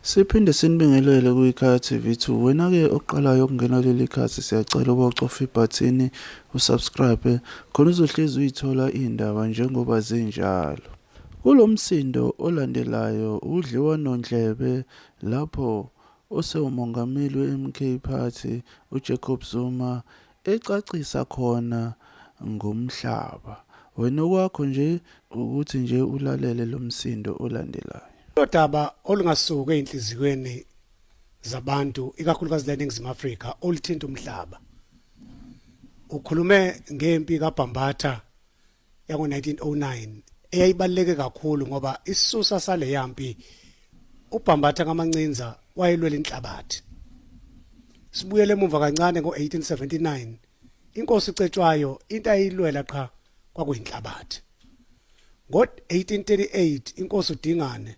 Siphinde sinibingelele kwiKhaya TV2. Wena-ke oqalayo ukungena kuleli khasi siyacela uba ucofe ibhathini usubscribe khona uzohlezi uyithola iy'ndaba njengoba zinjalo. Kulo msindo olandelayo udliwa nondlebe lapho osewumongameli we-MK Party uJacob Zuma Ecacisa khona ngomhlaba. Wena okwakho nje ukuthi nje ulalele lo msindo olandelayo. Udaba olungasuki ezinhliziyweni zabantu ikakhulukazi le Ningizimu Afrika olithinta umhlaba. Ukhulume ngempi kaBhambatha yango-1909 eyayibaluleke kakhulu ngoba isisusa sale yampi ubhambatha kamancinza wayelwela inhlabathi sibuyele emuva kancane ngo-1879 inkosi icetshwayo into ayilwela qha kwakuyinhlabathi ngo-1838 inkosi udingane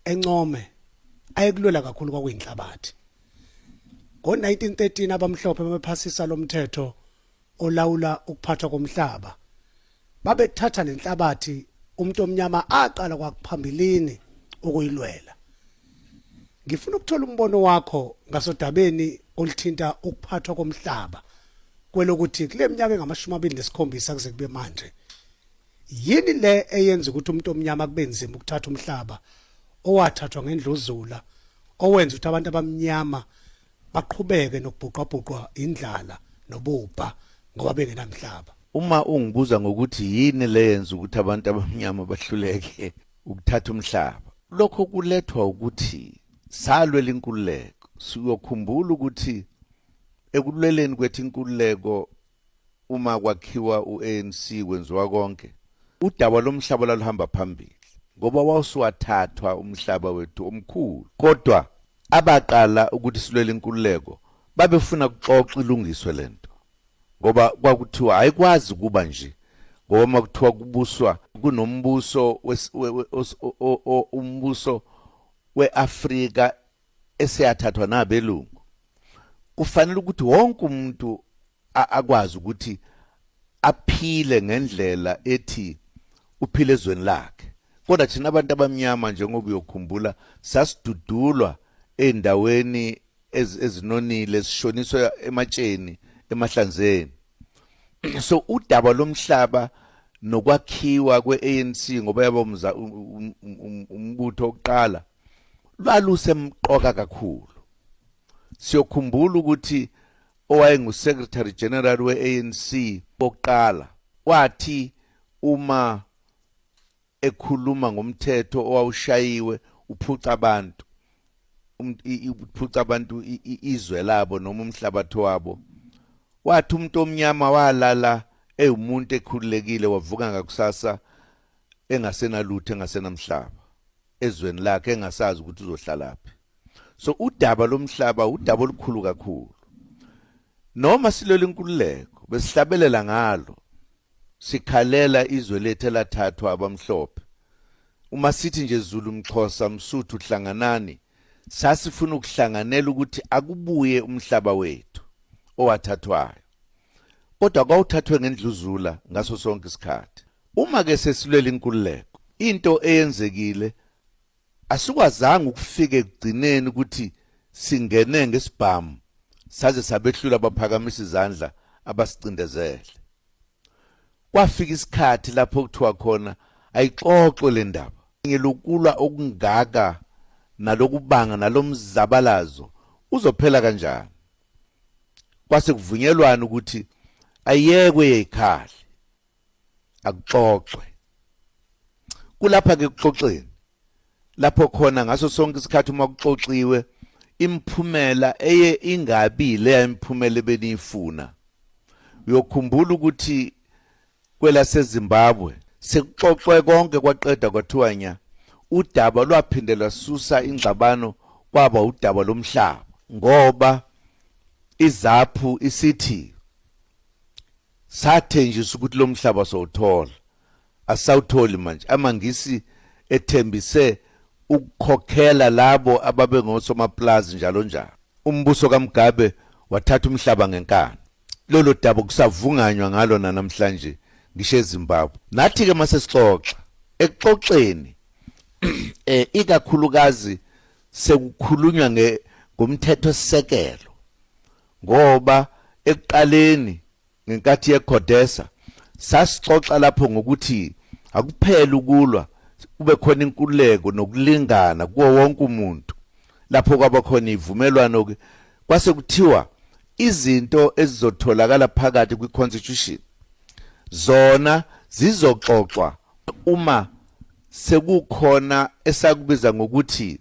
encome ayekulwela kakhulu kwakuyinhlabathi ngo-1913 abamhlophe babephasisa lo mthetho olawula ukuphathwa komhlaba babethatha lenhlabathi umuntu omnyama aqala kwakuphambilini ukuyilwela ngifuna ukuthola umbono wakho ngasodabeni olithinta ukuphathwa komhlaba kwelokuthi kule minyaka engamashumi abili nesikhombisa kuze kube manje yini le eyenza ukuthi umuntu omnyama kube nzima ukuthatha umhlaba owathathwa ngendluzula owenza ukuthi abantu abamnyama baqhubeke nokubhuqabhuqwa indlala nobubha ngoba bengenamhlaba uma ungibuza ngokuthi yini leyenza ukuthi abantu abamnyama bahluleke ukuthatha umhlaba lokho kulethwa ukuthi salwe lenkululeko siyokhumbula ukuthi ekulweleni kwethu inkululeko uma kwakhiwa uANC kwenziwa konke udaba lomhlaba laluhamba phambili ngoba wawusuwathathwa umhlaba wethu omkhulu kodwa Abaqala ukuthi silwele inkululeko babefuna kuxoxa ilungiswe lento. Ngoba kwakuthiwa ayikwazi kuba nje ngoba uma kuthiwa kubuswa kunombuso umbuso weAfrika eseyathathwa nabelungu kufanele ukuthi wonke umuntu akwazi ukuthi aphile ngendlela ethi uphile ezweni lakhe kodwa thina abantu abamnyama njengoba uyokhumbula sasidudulwa endaweni ezinonile sishoniswa ematsheni emahlanzeni so udaba lomhlaba nokwakhiwa kweANC ngoba yaba umza um, um, um, umbutho oqala lwalusemqoka kakhulu siyokhumbula ukuthi owayenguSecretary General we-ANC wokuqala wathi uma ekhuluma ngomthetho owawushayiwe uphuca abantu um, uphuca abantu izwe labo noma umhlabathi wabo wathi umuntu omnyama walala ewumuntu ekhululekile wavuka ngakusasa engasenalutho engasenamhlaba ezweni lakhe engasazi ukuthi uzohlalaphi so udaba lomhlaba udaba olukhulu kakhulu noma silola inkululeko besihlabelela ngalo sikhalela izwe lethu elathathwa abamhlophe uma sithi nje Zulu mxhosa msuthu hlanganani sasifuna ukuhlanganela ukuthi akubuye umhlaba wethu owathathwayo kodwa kwawuthathwe ngendluzula ngaso sonke isikhathi uma ke sesilwela inkululeko into eyenzekile Asikwazanga ukufika ekugcineni ukuthi singene ngesibhamu saze sabehlula abaphakamisa izandla abasicindezele. Kwafika isikhathi lapho kuthiwa khona ayixoxwe le ndaba. Ngelokulwa okungaka nalokubanga nalomzabalazo uzophela kanjani? Kwase kuvunyelwana ukuthi ayekwe yeyikhali. akuxoxwe kulapha ke kuxoxeni lapho khona ngaso sonke isikhathi uma kuxoxiwe imphumela eye ingabi le imphumela ebeniyifuna uyokhumbula ukuthi kwelaseZimbabwe sekuxoxwe konke kwaqeda kwathiwa nya udaba lwaphinde lasusa ingxabano kwaba udaba lomhlaba ngoba izaphu isithi sathenjiswa ukuthi lo mhlaba sowuthola asawutholi manje amangisi ethembise ukukhokhela labo ababengosomaplazi njalo njalo umbuso kaMugabe wathatha umhlaba ngenkani lolo daba kusavunganywa ngalo namhlanje ngisho eZimbabwe nathi ke mase sixoxa ekuxoxeni eh ikakhulukazi sekukhulunywa nge ngomthetho sisekelo Ngoba ekuqaleni ngenkathi yeCodesa sasixoxa lapho ngokuthi akuphela ukulwa kube khona inkululeko nokulingana kuwo wonke umuntu lapho kwaba khona ivumelwano ke kwase kuthiwa izinto ezizotholakala phakathi kwiConstitution zona zizoxoxwa uma sekukhona esakubiza ngokuthi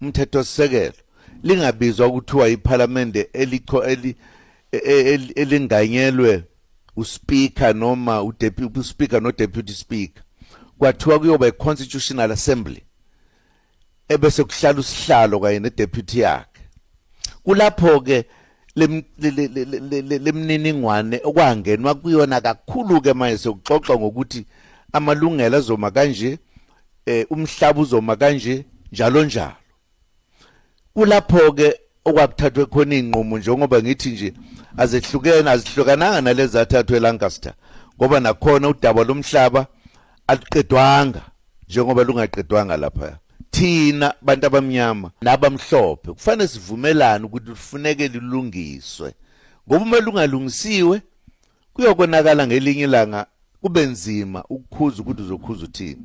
umthethosisekelo lingabizwa ukuthiwa iphalamende elikho eli e, e, elinganyelwe uspeaker noma udeputy uspeaker no deputy speaker kwathiwa kuyoba iconstitutional assembly ebese kuhlala usihlalo kanye ne deputy yakhe kulapho ke lemniningwane okwangenwa kuyona kakhulu ke manje sokuxoxa ngokuthi amalungelo azoma kanje eh umhlaba uzoma kanje njalo njalo kulapho ke okwakuthathwe khona inqumo njengoba ngithi nje azehlukene azihlukananga nalezi athathwe Lancaster ngoba nakhona udaba lomhlaba aluqedwanga njengoba lungaqedwanga lapha thina bantu abamnyama nabamhlophe kufanele sivumelane ukuthi lufuneke lilungiswe ngoba uma lungalungisiwe kuyokonakala ngelinye ilanga kube nzima ukukhuza ukuthi uzokhuza uthini